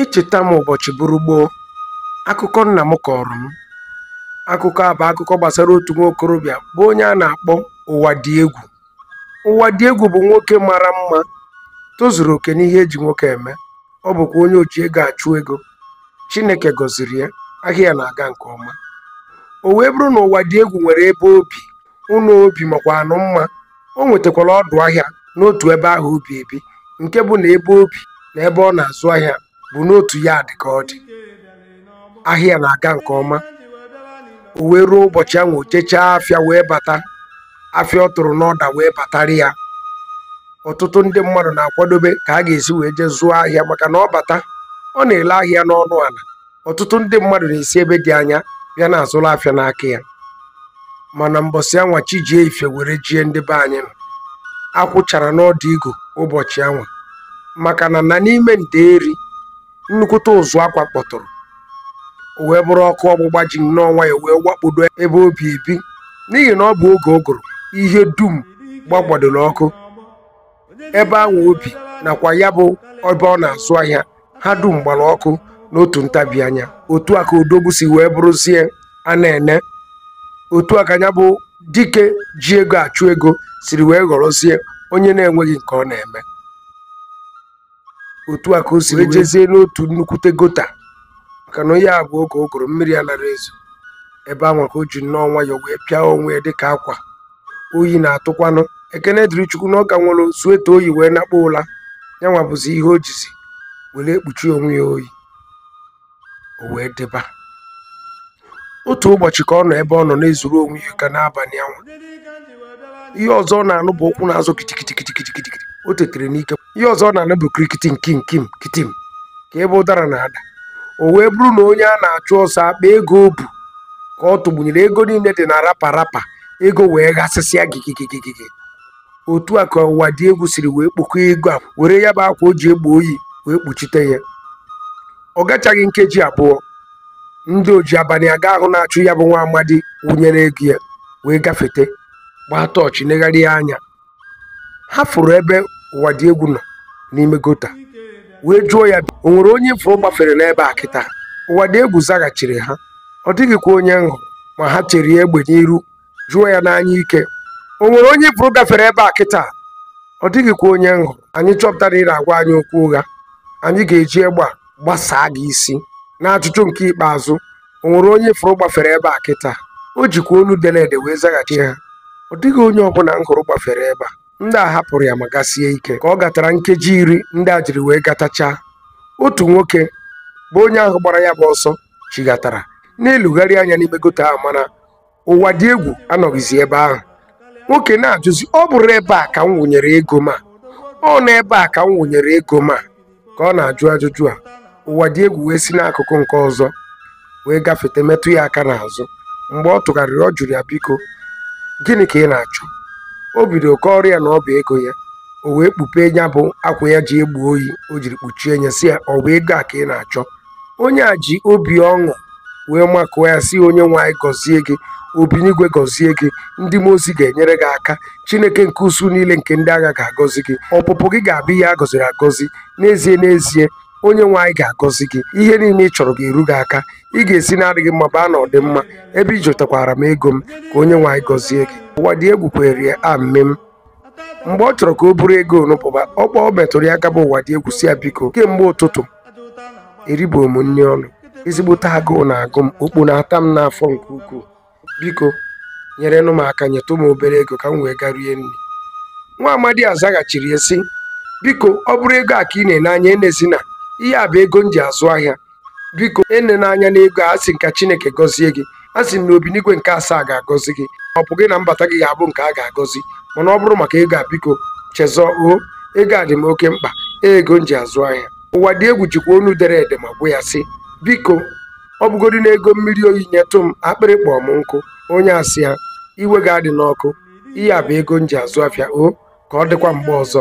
Echeta m ụbọchị bụrụ gboo, akụkọ nna m kọọrọ m. Akụkọ a bụ akụkọ gbasara otu nwa okorobịa bụ onye a na-akpọ Ụwadịegwu. Ụwadịegwu bụ nwoke mara mma, tozuru oke n'ihe eji nwoke eme. Ọ bụkwa onye oji ego achụ ego. Chineke gọziri ya, ahịa ya na-aga nke ọma. O wee bụrụ na Ụwadịegwu nwere ebe o bi. ụnọ o bi makwanụ mma o nwetakwara ọdụ ahịa n'otu ebe ahụ o bi ebi nke bụ na ebe o bi na ebe ọ na-azụ ahịa bụ n'otu ya adị ka ọ dị ahịa na-aga nke ọma o wee ruo ụbọchị anwa o jechaa afịa wee bata afịa ọ tụrụ n'order wee batara ya ọtụtụ ndị mmadụ na-akwadobe ka a ga-esi wee jee zụọ ahịa maka na ọ bata ọ na-ele ahịa n'ọnụ ala ọtụtụ ndị mmadụ na-esi ebe dị anya bịa na-azụrụ afịa n'aka ya mana mbọsị anwa chi jie ife were jie ndị be anyị nọ akwụ chara n'ọdụ igu ụbọchị anwa maka na na n'ime ndeeri nnukwute ụzụ akwa kpọtụrụ o wee bụrụ ọkụ ọgbụgba ji nnọọ nwayọ wee wakpodo ebe o bi ebi n'ihi na ọ bụ oge ụgụrụ ihe dum gbagbadoro ọkụ ebe anwa o bi nakwa ya bụ ebe ọ na-azụ ahịa ha dum gbara ọkụ n'otu ntabi anya otu a ka odogwu siri wee bụrụzie a na-ene otu a ka ya bụ dike ji ego achụ ego siri wee ghọrọzie onye na-enweghị nke ọ na-eme otu a ka o siri jezie n'otu nnukwute gutter maka na onye a bụ oge ụgụrụ mmiri anara ezo ebe anwa ka o ji nnọọ nwayọ wee pịa onwe ya dịka akwa oyi na-atụkwanụ ekene dịrị chukwu na ọ ka nwere sweater o yi wee nakpuo ụla ya nwa bụzi ihe o jizi were ekpuchi onwe ya oyi o wee dịba otu ụbọchị ka ọ nọ ebe ọ nọ na-ezuru onwe ya ike n'abalị anwa ihe ọzọ ọ na-anụ bụ ụkwụ na-azọ kitikitikitikitiki o tetere n'ike ihe ọzọ ọ na-anụ bụ kirikiti nkim kim kitim ka ebe ụdara na-ada o wee bụrụ na onye a na-achụ ọsọ akpa ego o bu ka ọ tụgbunyere ego niile dị na wrapper wrapper ego wee ghasịsịa gigigigigigi otu a ka Ụwadịegwu siri wee kpokọọ ego a were ya bụ akwa o ji egbo oyi wee kpuchite ya ọ gachaghị nkeji abụọ ndị oji abalị aga ahụ na-achụ ya bụ nwa amadi wụnyere ego ya wee gafete gbaa torch negharịa anya ha fụrụ ebe Ụwadịegwu nọ n'ime gutter wee jụọ ya o nwere onye ị fụrụ gbafere n'ebe a kịta Ụwadịegwu zaghachiri ha ọ dịghịkwa onye m hụrụ ma ha cherie ya egbe n'iru jụọ ya n'anya ike o nwere onye ị fụrụ gafere ebe a kịta ọ dịghịkwa onye m hụrụ anyị chọpụta na ị na-agwa anyị okwu ụgha anyị ga-eji egbe a gbasaa gị isi n'ajụjụ nke ikpeazụ o nwere onye ị fụrụ gbafere ebe a kịta o jikwa olu dere ede wee zaghachi ha ọ dịghị onye ọbụla m hụrụ gbafere ebe a ndị a hapụrụ ya ma gasie ike ka ọ gatara nkeji iri ndị a jiri wee gatachaa otu nwoke bụ onye ahụ gbara ya bụ ọsọ chighatara na-elegharị anya n'ime gọta ahụ mana ụwa dị egwu anọghịzi ebe ahụ nwoke na-ajụzi ọ bụrụ ebe a ka m wụnyere ego ma ọ n'ebe a ka m wụnyere ego ma ka ọ na-ajụ ajụjụ a ụwa dị egwu wee si n'akụkụ nke ọzọ wee gafete metụ ya aka n'azụ mgbe ọ tụgharịrị ọ jụrụ ya biko gịnị ka ị na-achọ o bido kọọrọ ya na ọ bụ ego ya o wee kpupe ya bụ akwa ya ji egbo oyi o jiri kpuchie ya sị ya ọ bụ ego a ka ị na-achọ onye a ji obi ọṅụ wee makụọ ya sị onye nwe anyị gọzie gị obinigwe gọzie gị ndị mmụọ ozi ga-enyere gị aka chineke nke usuu niile nke ndị agha ga-agọzi gị ọpụpụ gị ga-abụ ihe a gọziri agọzi n'ezie n'ezie onye nwe anyị ga-agọzi gị ihe niile ị chọrọ ga-eru gị aka ị ga-esi n'adịghị mma baa na ọdịmma ebe ị chọtakwara m ego m ka onye nwe anyị gọzie gị ụwa dị egwu kwere ya amen mgbe ọ chọrọ ka o buru ego nụ pụba ọ metụrụ ya aka bụ ụwa dị egwu sị ya biko kemgbe ụtụtụ eribo m nri ọnụ ezigbote agụụ na-agụ m okpo na-ata m n'afọ nke ukwuu biko nyerenụ m aka nyetụ m obere ego ka m wee gaa rie nri nwa amadi a zaghachiri ya sị biko ọ bụrụ ego a ka ị na-ene anya enezina ihe a bụ ego m ji azụ ahịa biko enena anya n'ego a asị m ka chineke gọzie gị a sị m na obinigwe nke asaa ga-agọzi gị ọpụpụ gị na mbata gị ga-abụ nke a ga-agọzi mana ọ bụrụ maka ego a biko chezọọ o ego a dị m oke mkpa ego m ji azụ ahịa ụwa dị egwu jikwa onu dere ede ma gwa ya sị biko ọ bụgodi na ego mmiri oyi nyetụ m akpịrị kpọọ m nkụ onye a sị ya iwe gị adịna ọkụ ihe a bụ ego m ji azụ afịa o ka ọ dịkwa mgbe ọzọ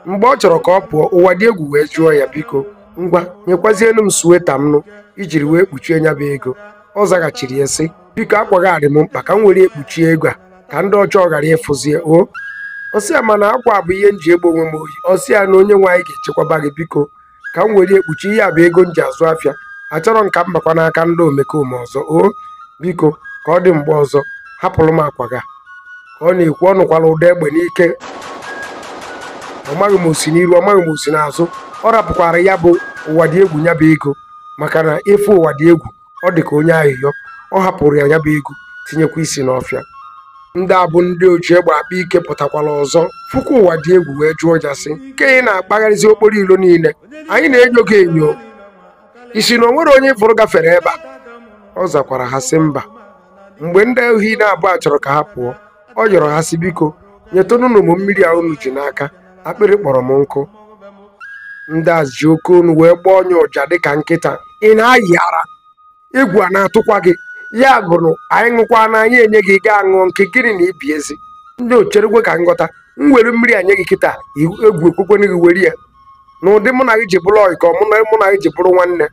mgbe ọ chọrọ ka ọ pụọ ụwa dị egwu wee jụọ ya biko ngwa nyekwazienụ m suweta m nụ i jiri wee kpuchie nya bụ ego ọ zaghachiri ya sị biko akwa gị a dị m mkpa ka m were ekpuchie ego a ka ndị ọjọọ ghara ịfụzie o ọ sị ya mana akwa a bụ ihe m ji egbo onwe m oyi ọ sị ya na onye nwe anyị ga-echekwaba gị biko ka m were ekpuchi ya bụ ego m ji azụ afịa achọrọ m ka m bakwa n'aka ndị omekome ọzọ o biko ka ọ dị mgbe ọzọ hapụrụ m akwa gị a ka ọ na-ekwu ọ nụkwara ụda egbe n'ike ọ maghị ma o si n'iru ọ maghị ma o si n'azụ ọ rapụkwara ya bụ ụwa dị egwu ya bụ ego maka na efu ụwa dị egwu ọ dị ka onye ayịyọ ọ hapụrụ ya ya bụ ego tinyekwa isi n'ọfịa ndị a bụ ndị oji egbe akpa ike pụtakwara ọzọ fụkwa ụwa dị egwu wee jụọ ya sị nke ị na-akpagharịzi okporo ilo niile anyị na-enyo gị enyo ị sị na o nwere onye ị fụrụ gafere ebe a ọ zakwara ha sị mba mgbe ndị ohi naabọ a chọrọ ka ha pụọ ọ yọrọ ha sị biko nyetụnụnụ m mmiri a unu ji n'aka akpịrị kpọrọ m nkụ ndị a ji oke onu wee gbaa onye ụja dịka nkịta ị na-ayị ara egwu a na-atụkwa gị ya gụrụ anyị ṅụkwa na anyị enye gị gaa ṅụọ nke gịnị na ibi ezi ndị ocherekwe ka m ghọta m were mmiri a nye gị kịta i- egwu ekwekwana gị were ya na ụdị mụ na gị ji bụrụ ọyị ka ọ mụ na mụ na gị ji bụrụ nwanne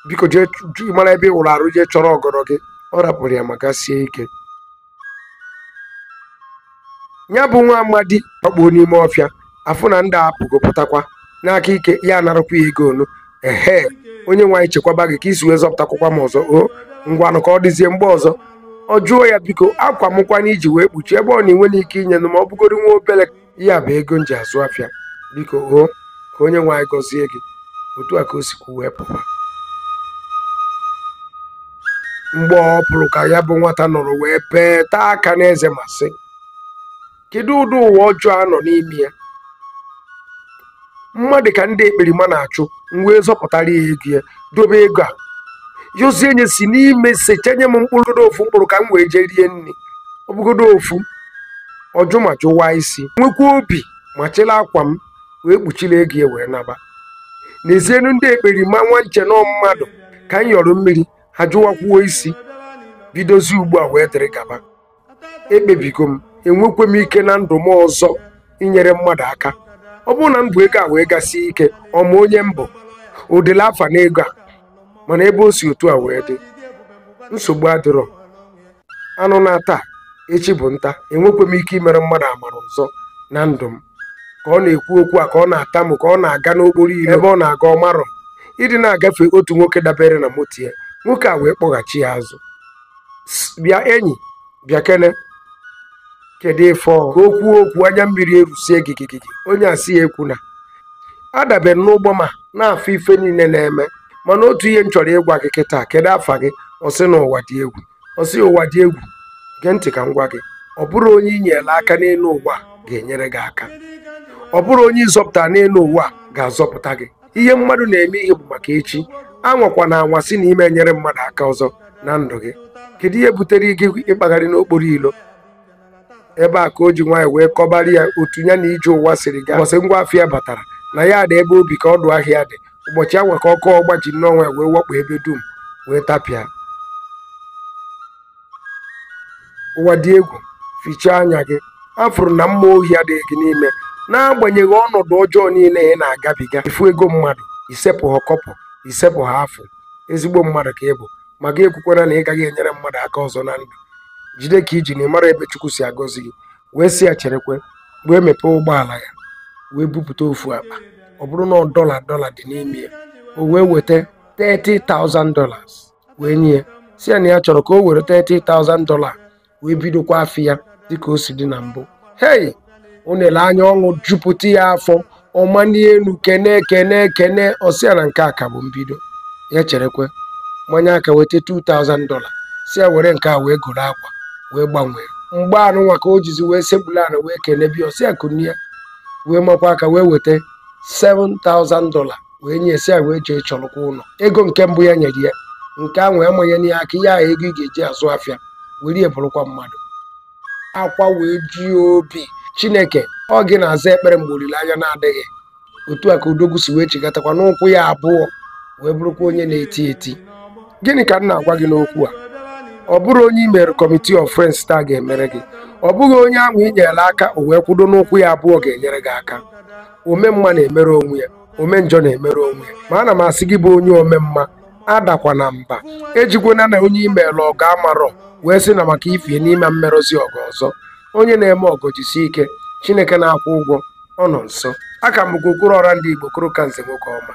biko jee chụ- mara ebe ị wụrụ arụ jee chọrọ ọgọdọ gị ọ rapụrụ ya maka sie ike ya bụ nwa amadị ọkpụo n'ime ọfịa afụ na ndị a apụgo pụtakwa n'aka ike ya narakwa ya ego onu ehe onye nwe anyị chekwaba gị ka i si wee zọpụtakwakwa m ọzọ o ngwanụ ka ọ dịzie mgbe ọzọ ọ jụọ ya biko akwa mụ kwanụ i ji wee kpuchie ego ahụ na i nwere ike inyenụ m ma ọ bụgoro nwa obere ihe a bụ ego m ji azụ afịa biko o ka onye nwe anyị gọzie gị otu a ka o si kwuo wee pụwa mgbe ọ pụrụ ka ya bụ nwata nọrọ wee bee taa aka n'eze ma sị kedu ụdị ụwa ọjọọ a nọ n'ime ya mmadụ ka ndị ekperima na-achụ m wee zọpụtara ya ego ya dobe ego a yọzie nye si n'ime sechenye m mkpụrụ godo ofu mkpụrụ ka m wee jee rie nri ọ bụgodo ofu ọ jụ ma jụwaa isi nwekwa obi ma chịrị akwa m wee kpuchiri ego ya wee naba nezienụ ndị ekperima nwa m che na ọ mmadụ ka m yọrọ mmiri ha jụwakwuo isi bidozi ugbu a wee dịrị gaba ekpebigo m enwekwe m ike na ndụ m ọzọ inyere mmadụ aka ọ bụrụ na m bu ego a wee gasie ike ọ ma onye m bụ o dere afa na ego a mana ebe o si otu a wee dị nsogbu adịrọ anụ naa taa echi bụ nta enwekwe m ike imere mmadụ amara ọzọ na ndụ m ka ọ na-ekwu okwu a ka ọ na-atamu ka ọ na-aga n'okporo ire ebe ọ na-aga ọ marọ ịdị na-agafe otu nwoke dabere na moto ya nwoke a wee kpọghachi ya azụ bịa enyi bịakene kedu ife ọ ka o kwuo okwu anya mmiri erusie gigigigi onye a sị ya ekwuna adabere m n'ụgbọ m a na-afụ ife niile na-eme mana otu ihe m chọrọ ịgwa gị kịta kedu afa gị ọ sị na ụwa dị egwu ọ sị ụwa dị egwu gee ntị ka m gwa gị ọ bụrọ onye i nyere aka n'elu ụwa ga-enyere gị aka ọ bụrọ onye ị zọpụta n'elu ụwa ga-azọpụta gị ihe mmadụ na-eme ihe bụ maka echi anwakwana anwa sị na ị ma enyere mmadụ aka ọzọ na ndụ gị kedu ihe butere gị ịkpagharị n'okporo ilo ebe a ka o ji nwayọ wee kọbara ya otu ya na ije ụwa siri gaa ụbọchị ngwa afịa batara na yard ebe obi ka ọdụ ahịa dị ụbọchị anwa ka ọkụ ọgba ji nnọọ nwayọ wee wakpo ebe dum wee tapịa ụwa dị egwu fichaa anya gị afụrụ m na mmụọ ohi adịghị gị n'ime n'agbanyeghị ọnọdụ ọjọọ niile ị na-agabiga ị fụ ego mmadụ isepụ ha kọpụ isepụ ha afọ ezigbo mmadụ ka ị bụ ma gị ekwukwana na ị gaghị enyere mmadụ aka ọzọ na ndụ jide ka i ji na ị marọ ebe chukwu si agọzi gị wee sị ya cherekwe wee mepee ụgbọala ya wee bupụta ofu akpa ọ bụrụ nnọọ dọla dọla dị n'ime ya o wee weta 30,000 dollars wee nye ya sị ya na ya chọrọ ka o were 30,000 dola wee bidokwa afịa ya dịka o si dị na mbụ hei o nele anya ọṅụ jupụta ya afọ ọ manie enu kene kene kene ọ sị ya na nke a ka bụ mbido ya cherekwe manye aka weta 2000 dola sị ya were nke a wee goro akwa wee gbanwee mgbe anụnwa ka o jizi wee sekpulu ana wee kenebe ọ sị ya kunie wee makwa aka wee weta 7000 dola wee nye sị ya were jee chọrọkwa ụlọ ego nke mbụ ya nyere ya nke ahụ ya amanyena ya aka ihe ahụ ego ị ga-eji azụ afịa were ya bụrụkwa mmadụ akwa wee ji obi chineke ọ gị na-aza ekpere mgbe olileanya na-adịghị otu a ka odogwu si wee chigatakwa n'ụkwụ ya abụọ wee bụrụkwa onye na-eti eti gịnị ka m na-agwa gị n'okwu a ọ bụrọ onye i mere committee of friends taa ga-emere gị ọ bụghị onye ahụ i nyere aka o wee kwudo n'ụkwụ ya abụọ ga-enyere gị aka ome mma na-emere onwe ya ome njọ na-emere onwe ma ana m asị gị bụ onye ome mma adakwana mba ejikwana na onye i meelu ọgọ amarọ wee sị na maka ifi ya na ị ma emeruzi ọgọ ọzọ onye na-eme ọgọ jisi ike chineke na-akwụ ụgwọ ọ nọ nso a ka m bụkwa okwuru ọra ndị igbo okoro ka nze nwoke ọma